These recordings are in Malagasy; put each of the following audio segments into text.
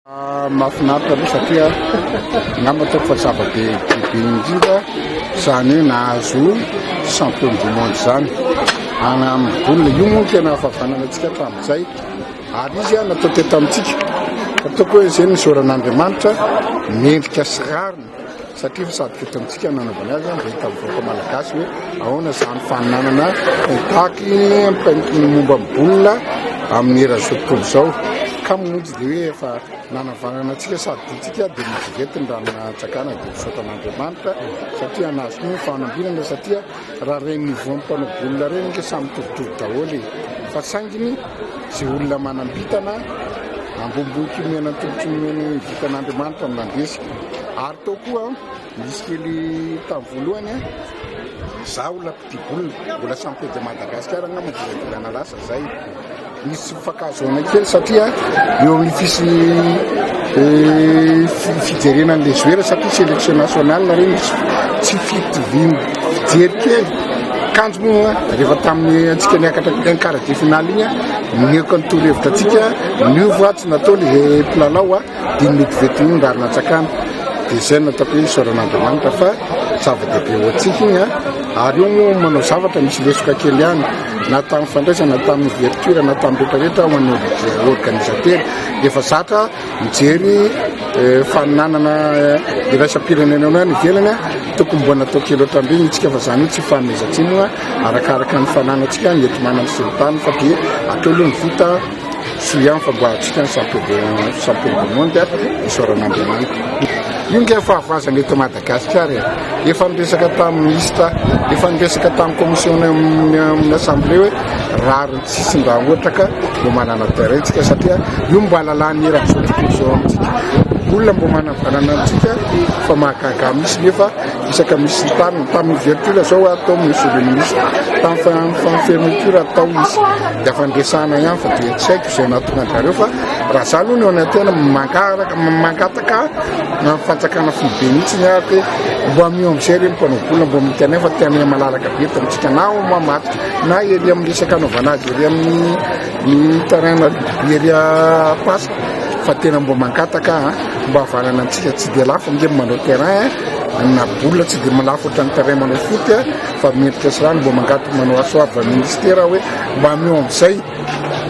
Mahafinaritra aloha satria angamba ataoko fa zava-be bebe indrindra izany hoe nahazo champion du monde izany ana amin'ny boule io moa tena fahavanana antsika hatramin'izay ary izy a natao teto amintsika ataoko hoe izay ny zoran'Andriamanitra mendrika sy rariny satria efa sady kely tamintsika ny nanaovany azy, dia hita amin'ny vahoaka malagasy hoe ahoana izany fananana contact ny momba ny bola amin'ny eran'izao tontolo izao, kamo moa tsy dia hoe efa nanavagnana antsika sady tiantsika dia miverety ny raha natsakana dia misaotra an'Andriamanitra satria nahazo koa ny fanambinana satria Raha reny niveau ny mpanao boule reny nge samy mitovitovy daholo e! fa sainginy ze olona manam-bitana ambonimbony kely miaina ny tongotry ny miaina ny vitan' Andriamanitra no nandresy ary tao koa nisy kely tamin'ny voalohany an! za olona mpitia boule mbola samy tety Madagasikara angamba dimy volana lasa zay Misy tsy fifankahazoana kely satria eo amin'ny fisian'ny fijerena an'ilay joueur satria sélection nationale ireny tsy fitoviany fijery kely. Kanjo moa rehefa tamin'ny antsika niakatra ny quart de finale iny, nihoaka ny torohevitra antsika, niova tsy nataony ilay mpilalao Dimy ny koveta iny raha natsakana dia izay no ataoko hoe isaoran'Andriamanitra fa zava-dehibe ho antsika iny an! Ary io moa manao zavatra misy lesoka kely ihany na tamin'ny fandraisana na tamin'ny ouverture na tamin'ny rehetra rehetra ho an'ny organisatera efa zatra mijery faninanana iraisam-pirenena eo any ivelany an! Tokony mbola natao kely ohatran'ireny itsika fa izany tsy fanomezan-tsiny arakaraka ny fananantsika ny enti-manana sy ny tany fa dia atao aloha ny vita Soa ihany fa mba antsika ny champion champion du monde a, isaorana Andriamanitra. Io nge fahavazana eto Madagascar e, efa niresaka tamin'ny ministre, efa niresaka tamin'ny commission amin'ny assemblée hoe rariny tsy hisy mba ohatra ka mba manana terrain tsika satria io mba lalàny eran'izao tontolo izao amintsika. Olona mba manana valana amintsika fa mahagaga mihitsy nefa Betsaka misy ny tany, tamin'ny ouverture zao ah, tao Monsieur le Ministre, tamin'ny fa- amin'ny fa- fermeture ah, tao izy, dia afa ndresahana ihany fa dia tsy haiko izay nahatonga anjareo fa raha za aloha ny ao anaty tena mangaraka, ma- mangataka na ny fanjakana foibe mihitsy ny ahy hoe mbo amiho amin'izay ireny mpanao vola mbo mety anay fa tena malalaka be eto amintsika na ao Mamadika na ery amin'ny resaka anaovana azy ery amin'ny ny terrain na ery ah, Pas Fa tena mba mangataka a! Mba havanana antsika tsy dia lafo ange manao terrain a! Na boule tsy dia lafo ohatran'ny terrain manao foot a! Fa mendrika sy rano mba mangataka manao assoir va ministera aho hoe mba ameo amin'izay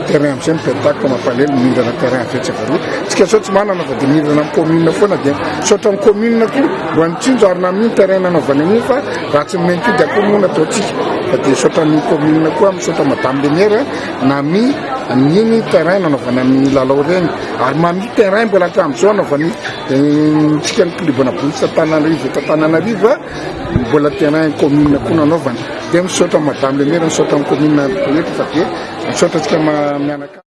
terrain amin'izay ny pentak mampalahelo mihindrana terrain avy etsy avy aroa tsika zao tsy manana fa dia mihindrana amin'ny commune foana dia misaotra ny commune koa mba nitsinjo ary nanohy ny terrain nanaovany an'iny fa raha tsy ny maintody akory moa no ataontsika fa dia misaotra ny commune koa misaotra madame le maire nanohy Amin'io ny terrain nanaovana ny lalao ireny ary mamita terrain mbola hatramin'izao anaovan'ny antsika ny klubana bointsy Antananarivo eto Antananarivo mbola terrain commune koa nanaovana dia misaotra madame le maire misaotra ny commune rehetra fa dia misaotra antsika mianakavy